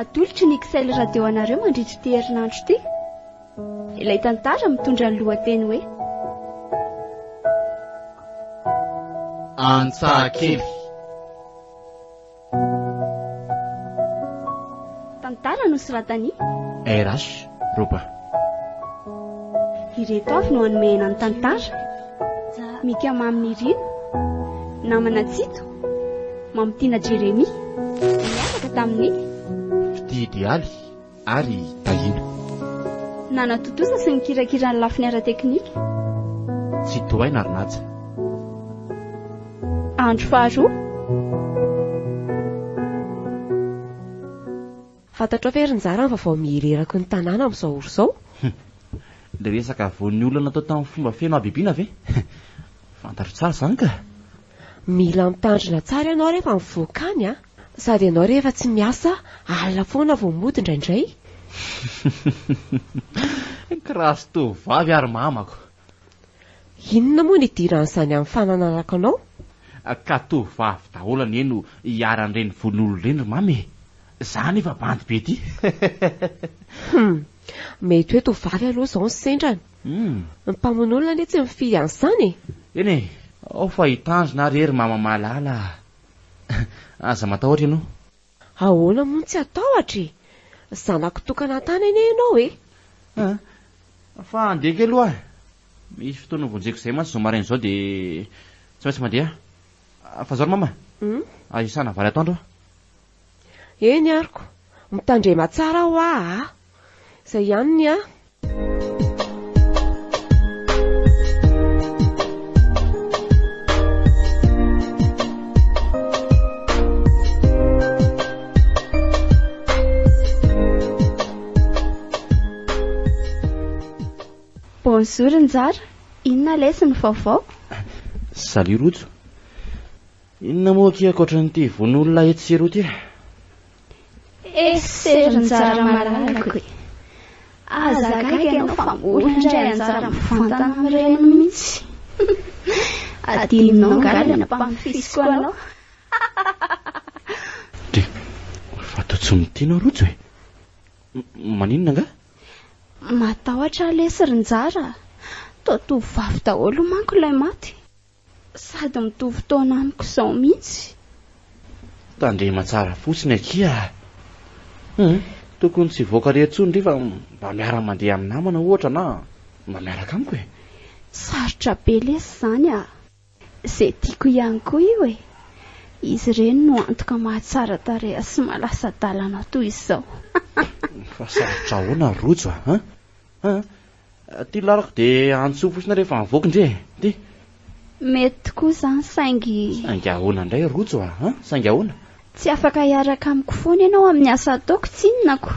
Atolotry ny XL Radio anareo mandritra ity herinandro ity ilay tantara mitondra ny lohateny hoe Antsahakely. Tantara nosoratan'i RH. Roba. Ireto avy no hanomehana ny tantara, Mika Mamy Nirina, Namana Tsito, Mamitiana Jeremia, Nianaka tamin'ny. Fitia Idealy ary Tahiana. Nanatontosa sy nikirakira ny lafiny ara-teknika. Tsitohaina ary Naja. Andro faharoa. Fantatrao ve ry Nizara ny vaovao mihereraky ny tanàna amin'izao ora izao? Humm! Ilay resaka voan'ny olona natao tamin'ny fomba feno habibiana ve? Fantatro tsara izany ka! Mila mitandrina tsara ianao rehefa mivoaka any an! Sady ianao rehefa tsy miasa, alina foana vao mody indraindray! Humm! Kirasto vavy ary mamako! Inona moa ny idiran'izany amin'ny fananarako anao? Ka tovovavy daholo anie no iharan'ireny vono-olona ireny ry Mamy e! Za anefa bandy be ty! Hum! Mety hoe tovovavy aloha izao ny sendrany. Ny mpamono olona anie tsy mifidy an'izany e! Eny e! Ao fa i Tanjona ary e ry Mama malala a! Aza matahotra ianao. Ahoana moa no tsy hatahotra e! Zanako tokana tany anie ianao e! Aa! Fa handeha kely hoa e! Misy fotoana vonjeko izay mantsy izao maraina izao dia tsy maintsy mandeha a! Fa izao ry mama aza iasana vary atoandro a! Eny aroko! Mitandrema tsara hoa a! Izay ihany ny ahy! Bonjour Njara, inona lesy ny vaovao? Salut Rojo, inona moa akia ankoatran'ity vono olona etsy sy eroa ity? Exer nitsara malalako e. Aza gaga ianao fa mbola indray anjara mivantana amin'ny reniny mihitsy. Adinonao angaha ilay nampamofisiko anao. Dia fa toa tsy mitia ianao Rojo e. Maninona angaha? Matahotra lesy ry Njara. Toa tovovavy daholo manko ilay maty. Sady mitovy taona amiko izao mihitsy. Tandrema tsara fotsiny akia a! Humm, tokony tsy hivoaka irery intsony ry fa mba miara-mandeha amin'ny namana ohatra na mba miaraka amiko e! Sarotra be lesy izany a! Izay tiako ihany koa io e! Izy ireny no antoka mahatsara tareha sy mahalasa-dalana toy izao. Fa sarotra ahoana ry rojo a! Haa, ty larako dia antsoy fotsiny rehefa mivoaka ndry e, ty. Mety tokoa izany saingy. Saingy ahoana indray Rojo a? Haa, saingy ahoana? Tsy afaka hiaraka amiko foana ianao amin'ny asa ataoko, tsinonako.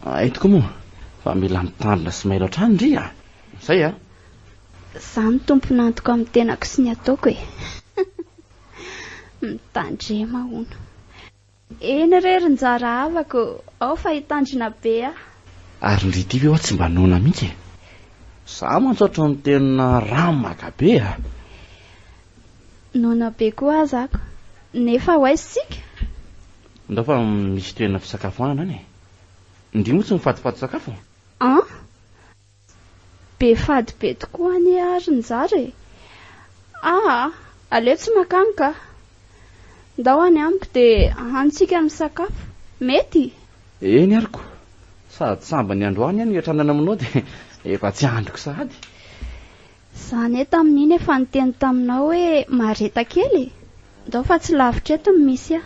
Hay tokoa moa fa mila mitandrina sy mailo hatrany ndry a! Izay a! Izaho no tompon'antoka amin'ny tenako sy ny ataoko e! Mitandrema hono. Eny re ry njara havako ao fa hitandrina be aho. Ary ndry ity ve hoa tsy mba noana mihitsy e. Za mantsy ohatry ny tena ramaka be a. Noana be koa aza ako. Nefa ho aiza isika? Ndao fa misy toerana fisakafoanana any e. Ndry moa tsy mifatofatotsakafo? An? Be fady be tokoa anie ary njary e! Aa! aleo tsy makany ka! Ndao any amiko dia ahanontsika misakafo. Mety? Eny ary ko! Sady sambany ny androany no iatranana aminao dia efa tsy andriko sahady. Za anie tamin'iny efa niteny taminao hoe mareta kely e! Ndao fa tsy lavitra eto no misy ahy.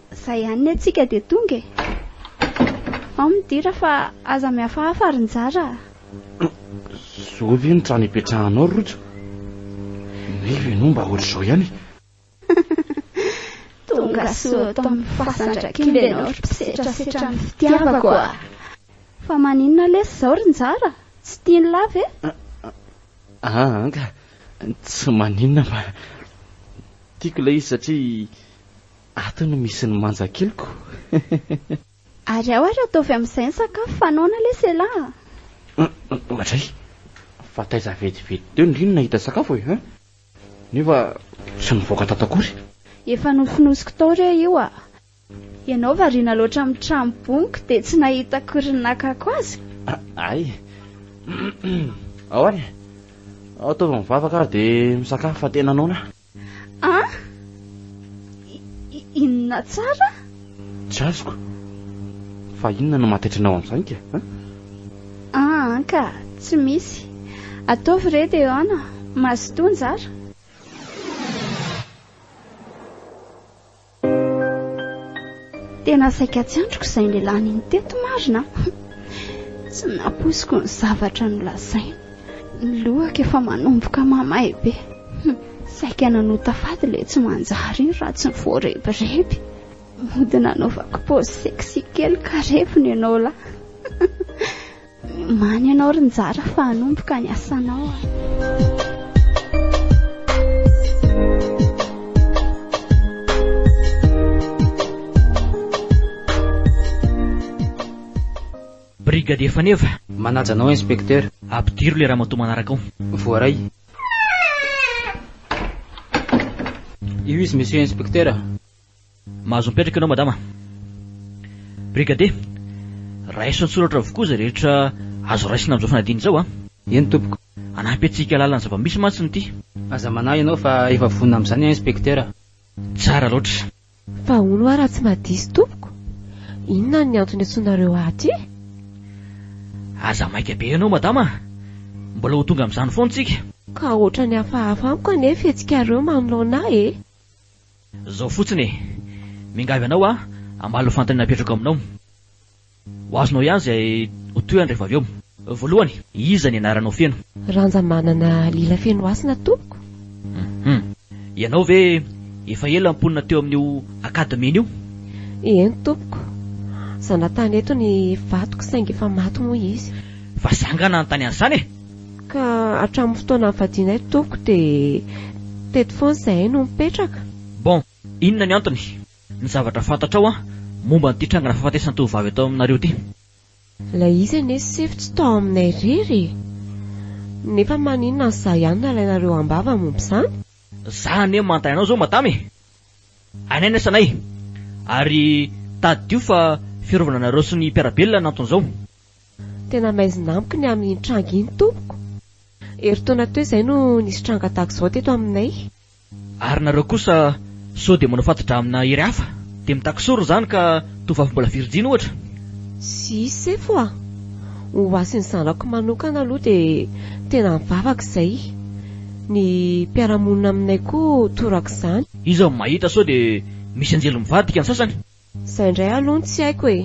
Zay ihany ny antsika dia tonga e. Ao midira fa aza mihafahafa ary njara a. Zao ve ny trano ipetrahanao ry Rojo? Nefa ianao mba ohatr'izao ihany e. Tonga soa ato amin'ny fasandra kely ianao ry mpisetrasetra ny fitiavako a. Fa maninona lesy izao ry njara? Tsy tian'i la ve? Aa anga, tsy maninona fa tiako ilay izy satria Ato no misy ny manja keliko. Ary ao ary ataovy amin'izay ny sakafo fa noana lesy elah a! Madray, fa taiza vetivety teo ny Lily nahita sakafo e! Nefa tsy nivoaka tato akory. Efa nofonosiko tao re io a! Ianao variana loatra amin'ny trano bongo dia tsy nahita akory ny nakako azy? Hay! Ao ary e! Ataovy mivavaka ary dia misakafo fa tena noana a! An? Inona tsara? Tsy azoko. Fa inona no mahataitra anao amin'izany ka? An? An ka, tsy misy. Ataovy re dia an, mazotoa njara. Tena saika tsy andriko izay nilaniny teto marina a! Tsy nampoiziko ny zavatra nolazainy. Ny lohako efa manomboka mamay be. Saika nanota faty ilay tsy manjary iny raha tsy voarebireby. Mody nanaovako pause sexy kely ka reviny ianao lahy. Many ianao ry njara fa hanomboka ny asanao a. Brigadier Faneva. Manaja anao inspecteur. Ampidiro le ramatoa manaraka ao. Voaray. Io izy monsieur inspecteur. Mahazo mipetraka ianao madama. Brigadier, raiso an-tsoratra avokoa izay rehetra azo raisina amin'izao fanadina izao a. Eny tompoko. Hanampy antsika hahalala ny zava-misy mantsy ny ity. Aza manahy ianao fa efa vonona amin'izany aho inspektera. Tsara loatra. Fa hono hoa raha tsy mba diso tompoko, inona ny antony antsoinareo ahy aty? Aza maika be ianao madama a. Mbola ho tonga amin'izany foana isika. Ka ohatrany hafahafa amiko anie fihetsikareo manoloana ahy e. Zao fotsiny e! Mingavy anao aho hamaly ho fanontaniana apetrako aminao. Ho azonao ihany izay ho tohiny rehefa avy eo. Voalohany, iza ny anaranao feno? Ranjamanana Lilafenohasina tompoko. Hum. Ianao ve efa ela mponina teo amin'io Academy-ny io? Eny tompoko. Zanatany eto ny vadiko saingy efa maty moa izy. Fa zangana any tany Ansana e! Ka hatramin'ny fotoana nivadianay tompoko dia teto foana izahay no mipetraka. Bon, inona ny antony? Ny zavatra fantatrao an, momba an'ity trangana fahafatesan-tovovavy eto aminareo ity? Ilay izy anie sefo tsy tao aminay irery e! Nefa maninona ny za ihany no alainareo am-bava momba izany? Za anie manontany anao izao madama e! Hainay ny asanay, ary tadidio fa fiarovana anareo sy ny mpiara-belona no anton'izao. Tena maizina amiko ny amin'iny tranga iny tompoko. Herintaona teo izay no nisy tranga tahaka izao teto aminay. Ary nareo kosa sao dia manao fato-dramina hery hafa? Dia mitaky sorona izany ka tovovavy mbola virjiny ohatra? Tsy sefo a! Ho hasin'ny zanako manokana aloha dia tena mivavaka izay. Ny mpiara-monina aminay koa torak'izany. Iza no mahita sao dia misy anjely mivadika ny sasany? Izay indray aloha no tsy haiko e!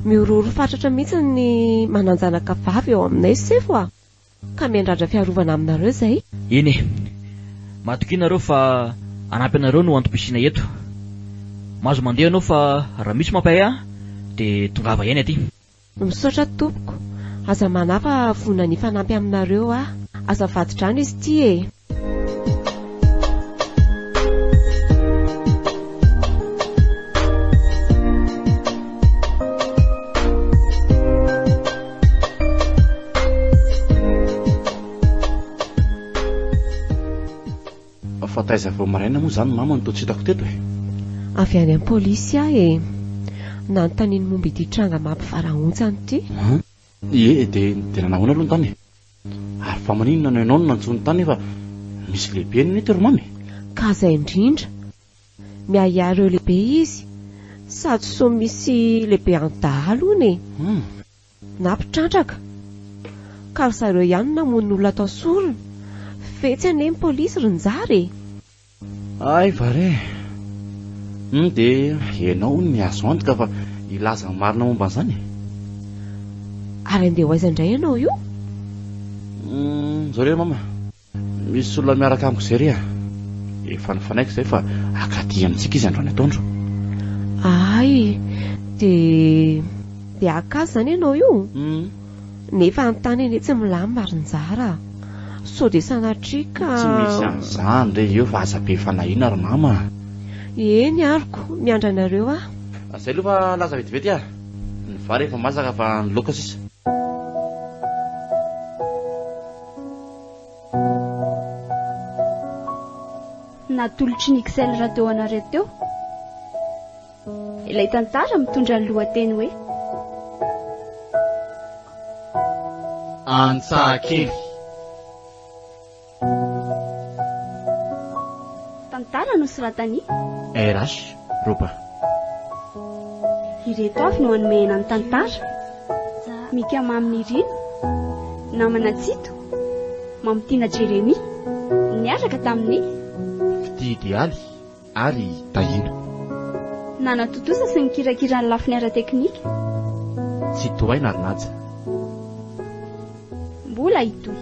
Mihorohoro fatratra mihitsy ny manan-janaka vavy eo aminay sefo a! Ka miandrandra fiarovana aminareo izay. Eny e! Matokia ianareo fa hanampy anareo no antom-pisiana eto. Mahazo mandeha anao fa raha misy mampahay ahy dia tongava ihany aty. Misaotra tompoko. Aza manahy fa vonona ny hifanampy aminareo aho. Aza vadi-drano izy ity e! fa taiza vao maraina moa izany mama no toa tsy hitako teto e avy any am polisy ahy e nanontaniany momba ity tranga mampivarahontsana ity ie dia dia nanahoana aloha ny tany e Ary fa maninona no ianao no nantsoiny tany nefa misy lehibe any mety ry mama e? Ka zay indrindra. Miahiahy ireo lehibe izy sady sao misy lehibe any dahalo hono e! Hum. Na mpitrandraka. Ka ry zareo ihany no namono olona tao sorona. Fetsy anie ny polisy ry njara e! Ay va re! Humm dia ianao hono ny azo antoka fa hilaza ny marina momba an'izany e! Ary andeha ho aiza indray ianao io? Humm izao re mama, misy olona miaraka amiko izay re a! Efa nifanaiko izay fa hakaty amintsika izy androany atoandro. Ay! Dia dia haka azy izany ianao io? Humm. Nefa any tany anie tsy milamina ary njara sao dia sanatria ka. Tsy misy an'izany re eo fa aza be fanahiana ry mama a. Eny aroko, miandry anareo aho. Zay aloha fa laza vetivety a. Ny vary efa masaka fa ny laoka sisa. Natolotry ny Xel Radio anareo teo. Ilay tantara mitondra ny lohateny hoe. Antsahakely. Tantara nosoratan'i. RH, Roba. Ireto avy no anomehana ny tantara, Mika Mamy Nirina, Namana Tsito, Mamitiana Jeremia, niaraka tamin'ny. Fitia Dialy. ary tahiana. Nanatontosa sy nikirakira ny lafiny ara-teknika. Tsy tohaina ary naja. Mbola hitohy.